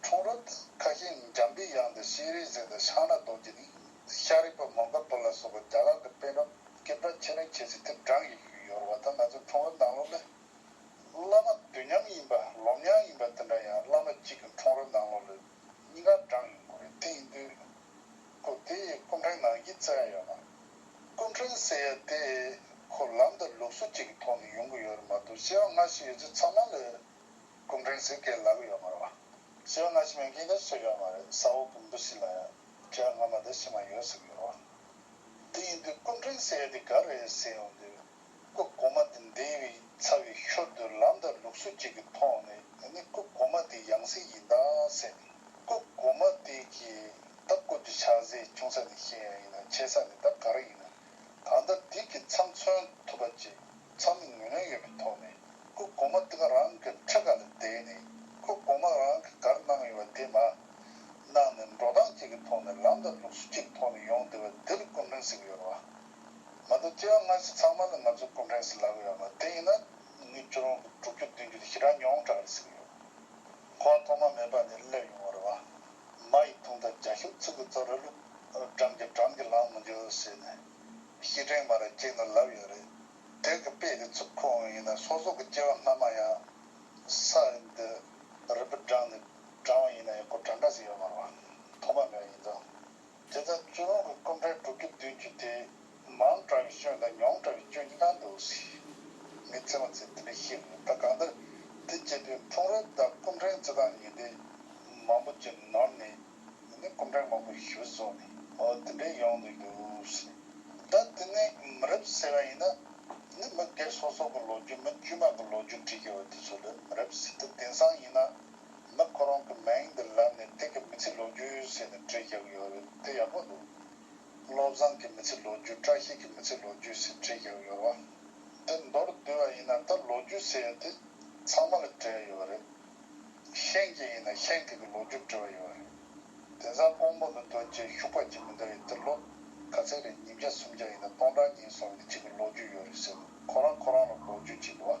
ཁྲུང་རོ་དང་ཁ་ཤིང་ནི་འཇམ་པའི་དབྱངས་དང་ཤིང་རིགས་ཟས་དང་ཤང་ནག་རྡོ་རྗེ་ནི་ཤ་རིགས་པ་མོན་ག་པུར་ལ་སོགས་པ་རྒྱ་གར་གྱི་དཔོན་རབས་སྐད་གྲགས་ཆེ་རིང་ཆེ་ཚེ་དེབ་གྲངས་ཀྱི་ཡུལ་ཡོར་བ་དང་ང་ཚོ་ཁྲུང་རོ་ནང་ལོག་ལས། བླ་མ་དུས་མཉམ་ཡིན་པ་ལོ་མྱང་ཡིན་པ་དེ་འདྲ་ཡང་བླ་མ་གཅིག་གི་ཁྲུང་རོ་ནང་ལོག་ལས་གཉིས་ཀ་གྲངས་ཡོད་དགོས་རེད་དེ་ཡིན་དུས། སྐུ་དེ་ཡི་སྐུ་འཕྲེང་ནང་གི་རྩེ་ཡ་ཡོད་ན། སྐུ་འཕྲེང་ཟེར་ཡ་དེ་ཁོ་ལམ་དང་ལུགས་སྲོལ་གཅིག་གི་ཐོག་ནས་ཡོང་གི་ཡོད་རེད་མ་གཏོགས་བཤད་བ་སྔ་ཕྱི་ཡོད་ཚད་ཚང་མ་ལས། སྐུ་མགྲོན་གཟིགས་སྐལ་ལབ་ཡོད་མ་རེད། སེར་སྔ་ཕྱི་མའི་འགན་ཁུར་ཚོད་ཡོད་མ་རེད་ས་འོག་གི་འབུ་སྲིན་ལ་ཡང་དྲི་བ་སྔ་མ་དང་ཕྱི་མ་ཡོད་ཟེར་གི་རོགས། དེ་ཡིན་དུས་སྐུ་མགྲོན་ཟེར་དེ་ག་རེད་ཟེར་ཡོང་དུས། སྐུ་གོང་མ་དེ་འདས་བའི་ཚ་བའི་ཤོར་དུས་ལམ་དང་ལུགས་སྲོལ་བཅས་ཀྱི་ཐོག་ནས་དེ་ནི་སྐུ་གོང་མ་དེའི་ཡང་སྲིད་ཡིན་དཱ་ཟེར། སྐུ་གོང་མ་དེ་གིས་ད་སྐུ་དེ་ཆགས་སའི་ཆུང་ས་ནས་ཤེས་ཡང་ཡིན་ན་ཆེ་ས་ནས་ད་ག་རེ་ཡིན་ནམ། ད་ལྟ་སྒྲིག་གི་མཚམས་མཚོན་ཐུབ་པ་ཅིག་ཚང་མས་ངོས་ལེན་ཡོད་པའི་ཐོག་ནས་སྐུ་གོང་མ་འདི་ག་རང་གི་ཁྲི་ཀ་ལ་བསྡད་ནས་སྐུ་གོང་མ་རང་གི་གར་གནང་ཡོད་པ་དེ་མ་གནང་ནས་འགྲོ་སྟངས་གཅིག་གི་ཐོག་ནས་ལམ་དང་ལུགས་སྲོལ་གཅིག་གི་ཐོག་ནས་ཡོང་བསྡད་པ་འདི་ལ་སྐུ་འཕྲེང་ཟེར་གི་ཡོད་རེད་བ། མ་མདོ་སྐྱེ་བ་སྔ་ཕྱི་ཚང་མ་ལ་ང་ཚོས་སྐུ་འཕྲེང་ཟེར་ལབ་ཡོད་མ་དེ་ཡིན་ན་ངའི་ཁྱོད་རང་གི་དྲུག་ཅུ་བདུན་ཅུ་ལ་ཞེ་དྲག་མྱོང་གྲགས་རེད་ཟེར་གི་ཡོད། གོ་བ་ཐོག་མ་མེད་པ་ནས་སླེབས་ཡོང་བ་རེད་བ། མ་ཡི་དུང་དང་རྒྱ་ཤུག་ཚུགས་ཀྱི་རྩ་ར་ལུག། འགྲམ་གྱི་འགྲམ་གྱི་ལངས་མི་འགྱུར་ཟེར་ནས། གཤིས་དྲན་མ་ར་ཁྱེད་ནི་ལབ་ཡོད་རེད། དེང་གི་དཔེ་དེ་ཚུགས་ཁོ་འོན་ཡིན་ན་སོ་སོགས་ཀྱི་སྐྱེ་བ་སྔ་མ་ཡང། ས་རིན་དུ། རི་བུ་འབྲངས་ནས་འབྲངས་བ་ཡིན་ན་ཡང་གོ་གྲངས་འདྲ་ཟིག་ཡོད་མ་རུང། ཐོག་མ་འདྲ་ཡིན་ཙང། དེ་ལྟར་བཙུན་མོ་གི་སྐུ་འཕྲེང་དྲུག་ཅུ་བདུན་ཅུ་དེ། མང་དྲགས་པའི་སྐྱོན་དང་ཉུང་དྲགས་པའི་སྐྱོན་གྱི་ནང་དུ་མི་ཚེ་མ་ཚེ་འདི་འདྲ་ཤེས་དགོས་ད་གང་ལྟར་དེ་བྱས་པའི་འཁྲུངས་རབས་དང་སྐུ་འཕྲེང་བརྩི་སྟངས་གཉིས་དེ་མང་པོ་ཅི་ནོར་ནས་ཡིན་ནའི་སྐུ་འཕྲེང་མང་པོ་ཞུ་བཟོ་ནས་འོ་དེ་འདྲས་ཡོང་དུ་འདུག་ད་དེ་ནས་མི་རབས་ཟེར་བ་ཡིན་ན་ནི་མི་སྒེར་སོ་སོ་གི་ལོ་རྒྱུས་མི་དཀྱུས་མ་གི་ལོ་རྒྱུས་བྲིས་ཡོད་པ་དེ་ཚོ་ལས་མི་རབས་ཟེར་དུས་དེང་སང་ཡིན་ན་ནག་ཁོ་རང་གི་མིང་འདི་ལབ་ནས་སྟེང་གི་མི་ཚེ་ལོ་རྒྱུས་ཟེར་ནས་བྲིས་རྒྱག་གི་ཡོད་རེད་དེ་ཡག་པོ་འདུག་བློ་བཟང་གི་མི་ཚེ་ལོ་རྒྱུས་བཀྲ་ཤིས་ཀྱི་མི་ཚེ་ལོ་རྒྱུས་ཟེར་བྲིས་རྒྱག་གི་ཡོད་རེད་བ། དེ་མདོར་བསྡུས་བ་ཡིན་ན་ད་ལོ་རྒྱུས་ཟེར་ཡོད་དེ་ཚང་མ་ལ་བྲེལ་ཡོད་རེད། ཤེན་གྱི་ཡིན་ན་ཤེན་གྱི་གི་ལོ་རྒྱུས་བྲི་བ་ཡོད་རེད། དེང་སང་ཀོང་པོ་འདི་དོན་ཅན་ཤུག་པ་སྐྱིད་མི་འདུག་ཡིན་དེ་ལོ་ག་ཚད་རེད་ཉིས་བརྒྱ་སུམ་བརྒྱ་ཡིན་ན་སྟོང་ཕྲག་གཉིས་སོང་ཡིན་དེ་གཅིག་གི་ལོ་རྒྱུས་ཡོད་རེད་ཟེར་ནས་ཁོ་རང་ཁོ་རང་ལ་ལོ་རྒྱུས་བྲིས་གི་བ།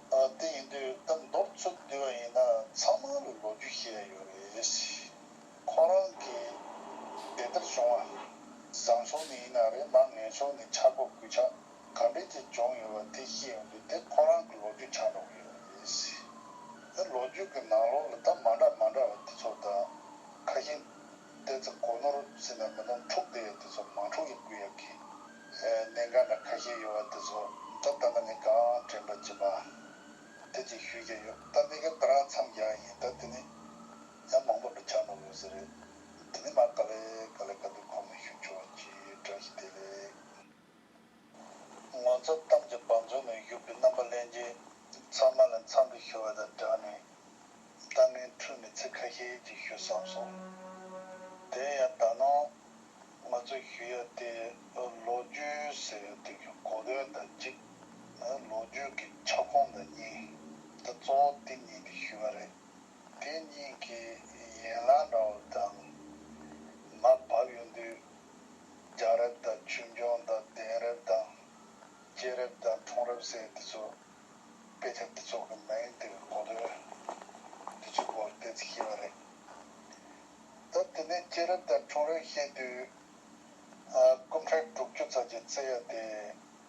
དེ་ཡིན་དུས་ད་མདོར་ཚུར་བསྡུས་པ་ཡིན་ན་ཚང་མ་ལ་ལོ་རྒྱུས་ཤེས་ཡ་ཡོད་རེད། ཁོ་རང་གིས་དེ་ལྟར་བྱུང་བ་བཟང་ཕྱོགས་ནས་ཡིན་ན་རེད་མ་ངན་ཕྱོགས་ནས་ཆག་སྒོ་གུད་ཆག་ག་འདྲས་ཀྱི་བྱུང་ཡོད་པ་དེ་ཤེས་ཡོང་དུས་དེ་ཁོ་རང་གི་ལོ་རྒྱུས་ཆག་འགྲོ་གི་ཡོད་རེད། ད་ལོ་རྒྱུས་ཀྱི་ནང་ལོགས་ལ་ད་མ་འདྲ་མ་འདྲ་བ་དེ་ཚོ་ད་ཁ་ཞེ་བལྟས་ཚེ་གོ་ནོར་ཟིན་ན་མི་སྣོམ་འཁྲུག་བདེ་བའི་དེ་ཚོ་མང་འཁྲུག་གི་སྐུལ་ཡབ་ཀྱིས། གནད་འགག་འདྲ་ཁ་ཤས་ཡོད་བ་དེ་ཚོ་ད་ལྟ་ནས་གང་དྲན་པ་བྱེད་པ། དེ་ཅིག་ཞུས་ཀྱི་ཡོད་ད་གནད་འགག་འདི་རང་མཚམས་རྒྱག་ཡ་ཡིན་ད་དེ་ནས་ཡང་མང་པོ་འདྲ་ཆགས་འགྲོ་དགོས་ཟེར་རེད་དེ་ནས་མར་ག་ལེ་ག་ལེ་ག་དུས་ཁོང་ནས་ཞུ་ཆོག་ཅིག་བཀྲ་ཤིས་བདེ་ལེགས། ངོ་མཚར་གཏམ་གྱི་བང་མཛོད་ནས་བཞུར་བའི་རྣམ་པ་གླེང་རྗེས་ཚང་མ་ལ་འཚམས་འདྲི་ཞུ་བ་དང་སྦྲགས་ནས། ལྟ་ངན་འཁྲུལ་མེད་ཚིག་ཁ་ཤས་ཅིག་ཞུ་བསམ་སོང། དེ་ཡང་ད་ནངས་ང་ཚོས་ཞུ་ཡ་དེ་ལོ་རྒྱུས་ཟེར་བའི་དོན་གྱི་གོ་དོན་དང་གཅིག། ལོ་རྒྱུས་ཀྱི་ཁྱབ་ཁོངས་དང་གཉིས། དེ་གཙོ་བོ་དེ་གཉིས་ཀྱི་ཞུ་བ་རེད། དེ་གཉིས་ཀྱི་ཡན་ལག་འདྲ་བོ་དང། མ་བབས་ཡོད་དུས་རྒྱ་རབས་དང་ཆོས་འབྱུང་དང་གདན་རབས་དང་རྒྱལ་རབས་དང་འཁྲུངས་རབས་སྲས་དེ་ཚོ་དཔེ་ཆ་དེ་ཚོ་གི་མིང་དེ་གོ་དོན་དེ་ཚོའི་སྐོར་བལྟས་ཚེ་ཤེས་པ་རེད། ད་དེ་ནས་རྒྱལ་རབས་དང་འཁྲུངས་རབས་བཤད་དུས་སྐུ་འཕྲེང་དྲུག་ཅུ་རྩ་བརྒྱད་བརྩི་ཡ་དེ།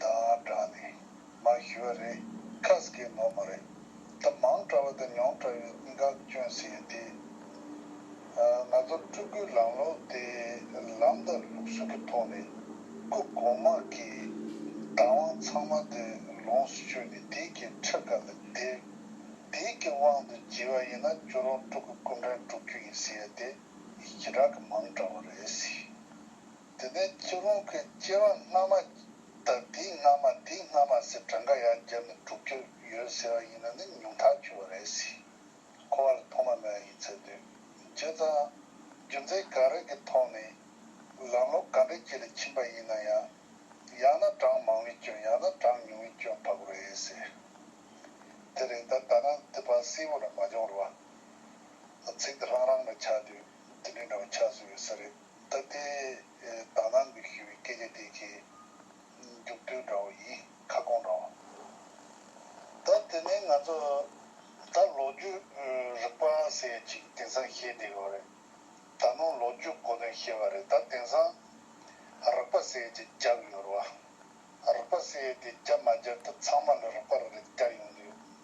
དང་སྦྲགས་ནས་མ་ཞུས་པ་རེད་ཁ་སྐད་ནོར་མ་རེད་ད་མང་དྲ་བ་དང་མྱོང་དྲ་བའི་འགག་བསྐྱོན་ཟེར་ཡོད་དེ། ང་ཚོ་སྤྲུལ་སྐུའི་ལམ་ལུགས་དེ་ལམ་དང་ལུགས་སྲོལ་གྱི་ཐོག་ནས་སྐུ་གོང་དམག་གི་བདག་དབང་ཚང་མ་དེ་ལོངས་སུ་སྤྱོད་ནས་དེའི་གི་ཁྲི་ཀ་ལ་བསྡད། དེའི་གི་དབང་དུ་བགྱིས་པ་ཡིན་ན་ཁྱོད་རང་སྤྲུལ་སྐུ་སྐུ་འདྲེན་སྒྲུབ་རྒྱུ་ཡིན་ཟེར་ཡོད་དེ་ཡི་གི་རག་གི་མང་དྲ་བ་རེད་ཟེར། དེ་ནས་ཚུར་རོང་ཁའི་སྐྱེ་བ་སྔ་མ་དང་དེའི་སྔ་མ་དེའི་སྔ་མ་ཟེར་གྲངས་ཀ་ཡང་བརྒྱབ་ནས་དྲུག་བཅུ་ཡོད་ཟེར་བ་ཡིན་ན་ནི་ཉུང་ཐག་ཆོད་པ་རེད་སྲིད། ཁོ་བ་ལ་ཐོག་མ་མེད་པ་ཡིན་ཚོད་འདུག་བྱས་ཙང། རྒྱུ་མཚན་གང་རེད་ཀྱི་ཐོག་ནས་ལམ་ལོ་ག་འདྲའི་དཀྱིལ་ལ་ཕྱིན་པ་ཡིན་ན་ཡང། ཡང་ན་གྲངས་མང་བའི་སྐྱོན་ཡང་ན་གྲངས་ཉུང་བའི་སྐྱོན་ཕ་གོ་རེད་སྲིད། དེ་རེད་ད་ད་ནང་དུས་བབ་གསལ་བོ་རང་མ་འབྱུང་རུང་བ། ཚིག་འདི་རང་རང་མ་ཆགས་དུས་དེ་འདྲའི་འདྲ་བོ་ཆགས་སྲོལ་ཡོད་ས་རེད། ད་ལྟའི་དག་སྣང་གི་ཞི་བའི་སྐད་ཆ་དེ་ཆེས་མཇུག་སྡུད་འདྲ་བོ་ཡིན་ཁ་སྐོང་འདྲ་བོ། ད་དེ་ནས་ང་ཚོ་ད་ལོ་རྒྱུས་རིག་པ་ཟེར་ཡ་ཅིག་དེང་སང་ཤེས་བསྡད་ཡོད་རེད། ད་ནོར་ལོ་རྒྱུས་གོ་དོན་ཤེས་པ་རེད་ད་དེང་སང་རིག་པ་ཟེར་ཡ་ཅིག་རྒྱབ་ཡོད་རེད་བ། རིག་པ་ཟེར་ཡ་དེ་རྒྱབ་མ་རྒྱབ་ད་ཚང་མ་ལ་རིག་པ་རེད་རྒྱབ་ཡོང་དུས།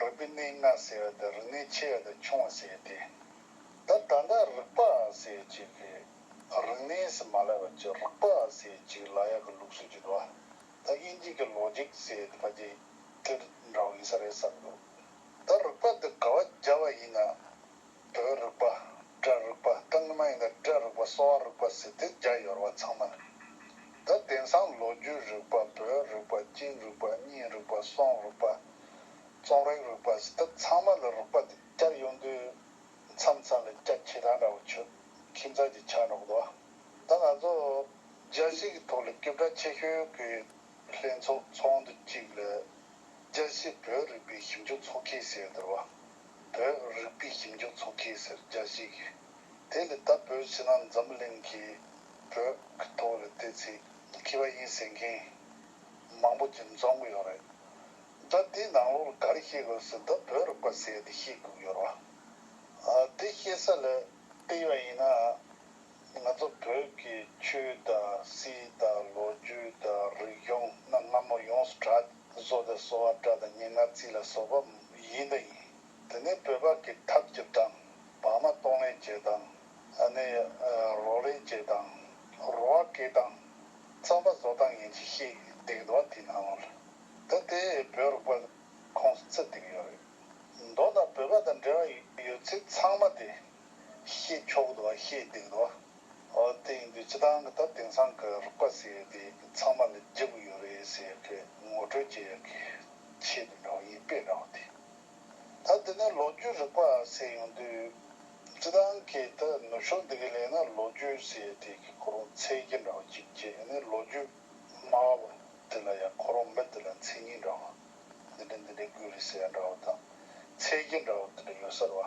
རིག་པའི་གནས་ལྔ་ཟེར་བ་དང་རིག་གནས་ཆེ་བ་དང་ཆུང་བ་ཟེར་ཏེ། ད་ད་ལྟ་རིག་པ་ཟེར་གཅིག་གི་རིག་གནས་སུ་མ་ལབ་པར་ཅི་རིག་པ་ཟེར་གཅིག་ལ་ཡག་གི་ལུགས་སྲོལ་བརྗོད་དོ། ད་དབྱིན་ཇིག་གི Logic ཟེར་ཏེ་ཕ་ཇེ་ཏྲི་འདྲ་བོ་ཡིན་ས་རེད་བསམ་འདུག། ད་རིག་པ་འདི་ག་བ་རྒྱ་བ་ཡིན་ན། དོའི་རིག་པ། སྒྲའི་རིག་པ་དང་ནི་མ་ཡིན་ཏེ་སྒྲའི་རིག་པ་གསོ་བ་རིག་པ་ཟེར་ཏེ་རྒྱ་ཡོར་བ་ཚང་མ་ནི། འདི་དེང་སང་ལོ་རྒྱུས་རིག་པ་བོད་རིག་པ་སྐྱིད་རིག་པ་གཉིད་རིག་པ་སོང་རིག་པ། རྩོམ་རིག་རིག་པ་ཟེར་ཐབས་ཚང་མ་ལ་རིག་པ་དེ་སྐྱར་ཡོང་དུས་མཚམས་མཚམས་ལ་སྐྱ་ཁྱི་དང་འདྲ་བོ་ཆོས་ཁྱི་མཛའ་གྱི་ཆ་འགྲོགས་འདུག་ད་ང་ཚོ་རྒྱ་གཞིས་ཀྱི་ཐོག་ལ་སྐྱོབ་གྲ་ཆེ་ཤོས་ཀྱི་ལྷན་ཚོགས་ཚོགས་འདུ་གཅིག་ལ་རྒྱ་གཞིས་བོད་རིག་པའི་ཞིབ་འཇུག་ཚོགས་ཁྱི་ཟེར་འདུག། བོད་རིག་པའི་ཞིབ་འཇུག་ཚོགས་ཁེ་སེར་བརྒྱ་བཞི་གིས་དེ་ལས་ད་བོད་ཕྱི་ནང་འཛམ་གླིང་གི་བོད་ཀྱི་ཐོག་ལ་བལྟས་ཚེ་མཁས་པ་ཡིན་ཟེར་མཁན་མང་པོ་ཇི་འཚོང་གི་ཡོད་རེད། ད་དེའི་ནང་ལོགས་ལ་ག་རེ་ཤེས་དགོས་ཟེར་ད་བོད་རིག་པ་ཟེར་དེ་ཤེས་དགོས་ཀྱི་ཡོད་རེད། དེ་ཤེས་ས་ལ་བལྟས་པ་ཡིན་ན་ང་ཚོ་བོད་ཀྱི་ཆོས་དང་སྲིད་དང་ལོ་རྒྱུས་དང་རིག་གཞུང་གནའ་སྔ་མོ་ཡོངས་སུ་གྲགས། ཕུན་ཚོགས་དང་གསོ་བ་བཀྲ་དང་སྙན་ངག་རྩིས་ལ་སོགས་པ་ཡིན་དང་ཡིན། དེ་ནས་བོད་ཕག་གི་འཐབ་རྒྱབ་དང། བག་མ་གཏོང་ལེན་བྱེད་དང། ཨ་ནེ་རོགས་ལེན་བྱེད་དང། རོ་བ་སྐེ་དང། རྩམ་པ་བཟོ་དང་ཡིན་གྱི་ཤིག་བརྡེག་དུ་བ་དེ་ནང་ལོ་རེད། ད་དེ་བོད་རོགས་པ་ཁོངས་སུ་བརྩི་བསྡིགས་ཡོད་རེད། མདོ་ལ་བོད་པ་དང་འབྲེལ་བ་ཡོད་ཚེ་ཚང་མ་དེ། ཤེས་ཆོག་དུ་བ་ཤེས་བརྡེག་དུ་བ། དེ་ཡིན་དུས་སྤྱི་དང་གི་ད་དེང་སང་གི་རིག་པ་ཟེར་ཡོད་དེ་ཚང་མ་ལ་འཇིག་གི་ཡོད་རེད་ཟེར་གི་ངོ་སྤྲོད་བྱེད་ཡག་གི་ཆེད་དུ་འདྲ་བ་ཡིན་དཔེ་འདྲ་བ་དེ་ད་དེ་ནས་ལོ་རྒྱུས་རིག་པ་ཟེར་ཡོང་དུས་སྤྱི་དང་གི་ད་ནུབ་ཕྱོགས་འདི་གི་ལས་ན་ལོ་རྒྱུས་ཟེར་དེ་གི་ཁོ་རང་འཚེ་གི་འདྲ་བ་གཅིག་བྱེད་ཡིན་ནི་ལོ་རྒྱུས་སྨྲ་བ་བ་དེ་ལ་ཡང་ཁོ་རང་མི་དེ་ལ་འཚེ་གཉིས་འདྲ་བ་འདི་འདྲ་འདི་འདྲ་དགོས་རེད་ཟེར་ཡ་འདྲ་བ་དང་འཚེ་གི་འདྲ་བ་དེ་འདྲ་ཡོད་སར་བ་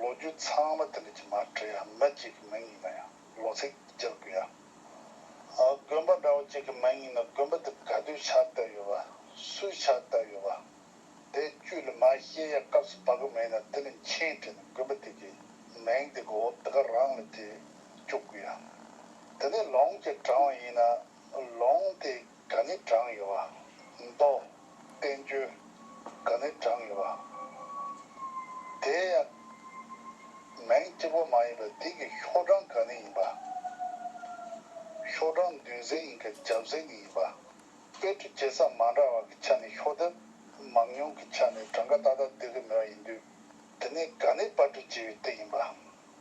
ལོ་རྒྱུས་ཚང་མ་དེ་འདྲ་གྱི་མ་བྲིས་ཡ་མི་གཅིག་གི་མིང་ཡིན་ན་ཡང་ལོ་ཚིག་བསྒྱུར་དགོས་ཡ། དགོན་པ་འདྲ་བོ་གཅིག་གི་མིང་ཡིན་ན་དགོན་པ་དེ་ག་དུས་ཆགས་བསྡད་ཡོད་པ། སུས་ཆགས་བསྡད་ཡོད་པ། དེ་བཅུ་ལས་མ་ཤེས་ཡ་སྐབས་སུ་བབ་གི་མེད་ན་དེ་ལས་མཆན་བྲིས་ནས་དགོན་པ་དེ་གི་མིང་དེ་གོ་འདི་ག་རང་ལ་བྲིས་བཅུག་དགོས་ཡ། དེ་ནས་ལུང་གི་དྲང་བ་ཡིན་ན་ལུང་དེ་ག་ནི་བགྲང་ཡོད་བ། མདོ། བསྟན་བཅོས། ག་ནི་བགྲང་ཡོད་བ། དེ་ཡང། མིང་གཅིག་པོ་མ་ཡིན་པར་དེ་གི་ཤོག་གྲངས་ག་ནི་ཡིན་པ། ཤོག་གྲངས་འདུས་ཟེར་ཡིན་ག་རྒྱབ་ཟེར་ནི་ཡིན་པ། དཔེ་ཁྲིད་བྱེད་ས་མ་འདྲ་བ་གི་ཆ་ནས་ཤོག་ལྡེབ་མང་ཉུང་གི་ཆ་ནས་བགྲང་ག་ཏག་ཏག་འདི་གི་མོས་ཡིན་དུས་དེ་ནི་ག་ནི་པར་ཁྲིད་བྱེད་པའི་དུས་ཡིན་པ།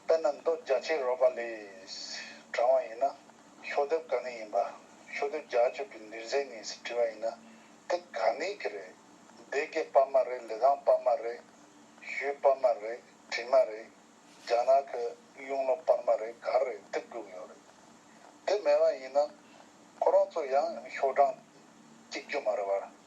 དཔེར་ན་མདོ་རྒྱ་ཆེའི་རོལ་པ་ལས། བགྲང་བ་ཡིན་ན། ཤོག་ལྡེབ་ག་ནས་ཡིན་པ། ཤོག་ལྡེབ་རྒྱག་སྤྱོད་ཀྱི་འདུལ་མཛད་གཉིས་སུ་བྲི་བ་ཡིན་ན་དེ་ག་ནས་ཀྱི་རེད། སྡེ་དགེ་པར་མ་རེད་ལི་ཐང་པར་མ་རེད། ཞུའི་པར་མ་རེད་བྲིས་མ་རེད། རྒྱ་ནག་གི་གཡུང་ལོ་པར་མ་རེད་ག་རེད་དེ་དགོས་ཀྱི་ཡོད་རེད། དེ་མེད་པ་ཡིན་ན་ཁོ་རང་ཚོ་ཡང་ཤོག་གྲངས་གཅིག་རྒྱུ་མ་རེད་བར།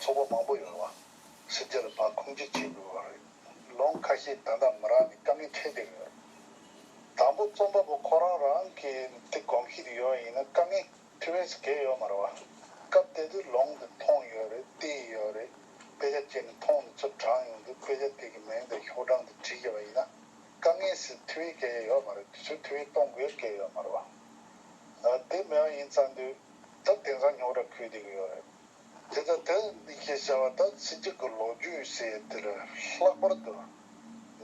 ཚོགས་པ་མང་པོ་ཡོང་བ། སྲིད་སྟེགས་ལ་བག་འཁུམ་ཅི་བྱེད་དགོས་པ་རེད། ལོང་ཁ་ཤས་ད་ལྟ་མི་རང་ནས་དཀའ་ངལ་འཕྲད་བསྡད་ཡོད། དང་པོ་རྩོམ་པ་པོ་ཁོ་རང་རང་གིས་དེ་གོམས་གཤིས་དེ་ཡོད་ཡིན་ན་དཀའ་ངལ་དེ་བས་བརྒལ་ཡོད་མ་རེད་བ། སྐབས་དེ་དུས་ལོང་དེ་མཐོང་ཡོད་རེད་བལྟས་ཡོད་རེད། དཔེ་ཆ་སྤྱད་ནས་མཐོང་དེ་ཚུར་དྲངས་ཡོང་དུས་དཔེ་ཆ་དེ་གི་མིང་དང་ཤོག་གྲངས་དེ་བྲིས་བཞག་པ་ཡིན་ན། དཀའ་ངལ་སེལ་དེ་བས་བསྐལ་བཞག་ཡོད་མ་རེད་དེ་ཚོས་དེ་བས་གཏོང་དགོས་བསྐལ་ཡོད་མ་རེད་བ། དེ་མེད་པ་ཡིན་ཙང་དུས། ད་དེང་སང་ཉོག་དྲ་ཁུལ་དེ་ཡོད་རེད། དེ་ལྟར་དེ་ནི་ཁྱེད་བྱ་བ་ད་ཚི་གཅིག་གི་ལོ་རྒྱུས་སི་ཡེ་ཏི་ལས་ལྷག་པར་དུ་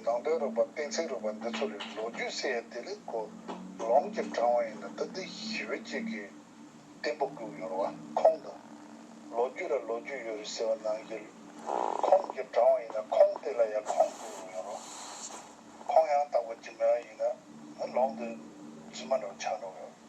ནང་དོན་རིག་པ་གཏིང་ཚིག་རིག་པ་འདི་ཚོ་ལས་ལོ་རྒྱུས་སི་ཡེ་ཏི་ལས་གོ་ལོང་གི་དྲང་བ་ཡིན་ན་ད་འདི་ཞི་བའི་གཅིག་གི་གཏན་པོ་བསྒུག་ཡོད་བ་ཁོང་དང། ལོ་རྒྱུས་ལ་ལོ་རྒྱུས་ཡོད་རེད་ཟེར་བ་ནང་གི་ཁོང་གི་དྲང་བ་ཡིན་ན་ཁོང་དེ་ལ་ཡང་ཁོང་བསྒུག་ཡོད་ཡོད་རོ། ཁོང་ཡང་དག་པ་ཇི་མེད་ཡིན་ན་ལོང་དེ་རྫུན་མ་འདྲ་བ་ཆགས་འགྲོ་གི་ཡོད།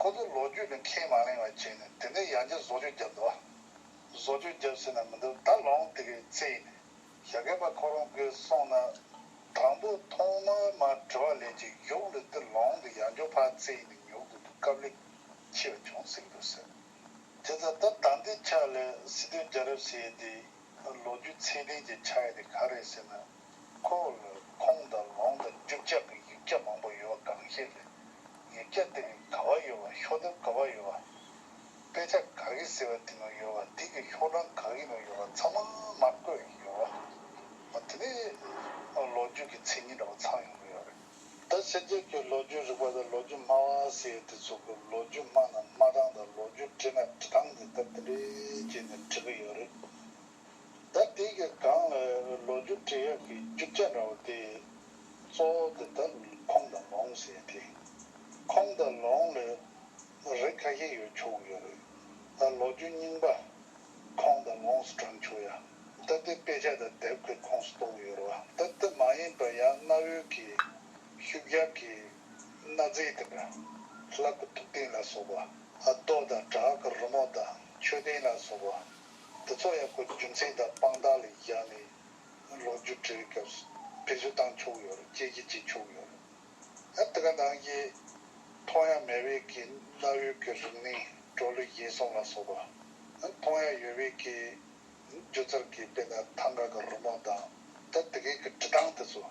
ཁོ་ཚོས་ལོ་རྒྱུས་ནི་ཁས་མ་ལེན་བ་བྱས་ནས་དེ་ནས་ཡང་བསྐྱར་བཟོ་བཅོས་བརྒྱབ་འདུག་བཟོ་བཅོས་བརྒྱབ་ཟེར་ན་མི་འདུག་ད་ལོངས་དེ་གའི་ཚེ་ཡིན། ཞྭ་གད་པ་ཁོ་རང་དགོས་སོང་ན། དང་པོ་ཐོག་མར་མ་བྲི་བ་ལས་ཀྱི་གཞུག་ལུས་འདི་ལོངས་འདི་ཡང་འགྱོ་ཕག་ཚེ་ཡིན་ནི་ཉོ་དགོས་འདུག་སྐབས་ལེགས་ཆེ་བ་བྱུང་ཟིག་འདུག་ཟེར། དེ་ཚ་ད་ད་འདི་ཆ་ལས་སི་ཏུ་རྒྱ་རབས་ཟེར་ཡས་དེའི་ལོ་རྒྱུས་ཚད་ལྡན་གྱི་ཆ་ཡས་དེ་ག་རེད་ཟེར་ན། ཁོ་བོར་ཁོང་དང་ལོང་དང་རྒྱུག་ཆག་གི་ཡིག་སྐྱ་མང་པོ་ཡོད་པ་གང་ཤེས་རེད། ཡིག་སྐྱ་སྟེང་གི་ག་བ་ཡོད་བ་ཤོག་ལྡེབ་ག་བ་ཡོད་བ། དཔེ་ཆ་ག་གེ་ཟེར་བ་དེ་ནང་ཡོད་བ་དེ་གི་ཤོག་གྲངས་ག་གེ་ནང་ཡོད་བ་ཚང་མ་མར་བཀོད་ཡོད་བ། ཨོ་དེ་ནི་ལོ་རྒྱུས་ཀྱི་མཚན་ཉིད་འདྲ་བོ་ཚང་ཡོང་གི་ཡོད་རེད། ད་ཕྱི་རྒྱལ་གྱི་ལོ་རྒྱུས་རིག་པ་དང་ལོ་རྒྱུས་སྨྲ་བ་ཟེར་ཡོད་དེ་ཚོ་གི་ལོ་རྒྱུས་སྨྲ་ན་སྨྲ་སྟངས་དང་ལོ་རྒྱུས་བྲིས་ན་བྲི་སྟངས་དེ་ལྟ་དེ་འདྲའི་བྱས་ནས་བྲི་གི་ཡོད་རེད། ཟླ་འདིའི་གི་སྒང་ལ་ལོ་རྒྱུས་འབྲི་གཡག་གི་རྒྱུ་རྐྱ་འདྲ་བོ་དེ་གཙོ་བོ་དེ་ད་ཁོང་དང་ལོང་ཟེར་དེ། ཁོང་དང་ལོང་ལས་རིགས་ཁ་ཤས་ཡོད་ཆོག་གི་ཡོད་རེད། ད་ལོ་རྒྱུས་རྙིང་པ་ཁོང་དང་ལོང་སུ་དྲངས་ཆོག་ཡ། ད་དེ་དཔེ་ཆ་དང་དེབ་གི་ཁོངས་སུ་གཏོགས་ཡོད་རེད་བ། ད་དེ་མ་ཡིན་པར་ཡང་གནའ་བོའི་གི་ཤུག་གཡག་གི་གནའ་རྫས་དེ་འདྲ། ལྷ་སྐུ་ཐུགས་རྟེན་ལ་སོགས་པ། རྡོ་དང་བྲག་གི་རི་མོ་དང་མཆོད་རྟེན་ལ་སོགས་པ། འདི་ཚོ་ཡང་སྒོས་རྒྱུ་མཚན་དང་དཔང་རྟགས་ལས་བཞག་ནས་ལོ་རྒྱུས་བྲིས་སྐབས་སུ་བེད་སྤྱོད་བཏང་ཆོག་ཡོད་རེད་ཅེས་ཀྱི་བྱེད་ཆོག་ཡོད་རེད་ཨ། འདི་ག་ནང་གི་མཐོང་ཡ་མེད་བས་ཀྱི་གནའ་བོའི་གི་རིག་གནས་བྲོ་ལུས་བཞེས་སོང་ལ་སོགས་པ་མཐོང་ཡ་ཡོད་བས་ཀྱི་སྒྱུ་རྩལ་གྱི་དཔེ་ན་ཐང་ག་གི་རུ་དམག་དང་ད་འདི་གའི་གི་བྲི་སྟངས་དེ་ཚོ།